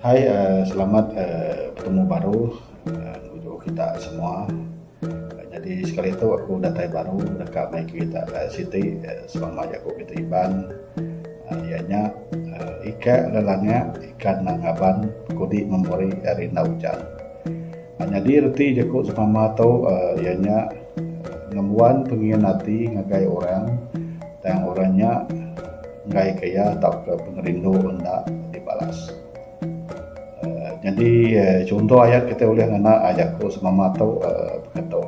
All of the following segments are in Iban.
Hai uhh selamat uhh betemu baru uhh ngujung kita semua. Nyadi sekali tu aku datai baru deka mai kita siti sebab maya ku ngagai Iban iya nya uhh ika ne langak ika ne ngaban kudi memori ari enda ujan. Nyadi reti ku sesama tu uhh iya nya. Ngembuan pengin ati ngagai orang tang orang nya enggaika iya tauka pengerindu enda dibalas. uhh Nyadi chunto ayat kitai ulih ngena ayat ku semama tu uhh bekatu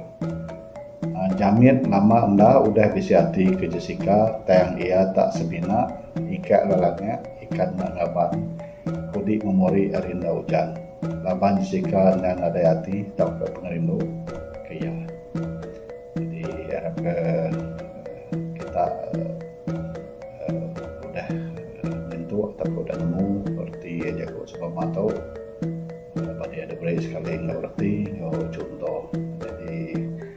Jamit nama enda udah bisi ati ke Jessica tang iya tak semina ika le langit ikan ne ngaban. Kudi memori ari enda ujan laban Jessica endang nadai ati tauka pengerindu ke iya. Jadi harapka kita udah nyentuk tauka udah nemu reti iya jaku sebama tu laban iya diberi sekali enggau reti enggau chunto. Jadi.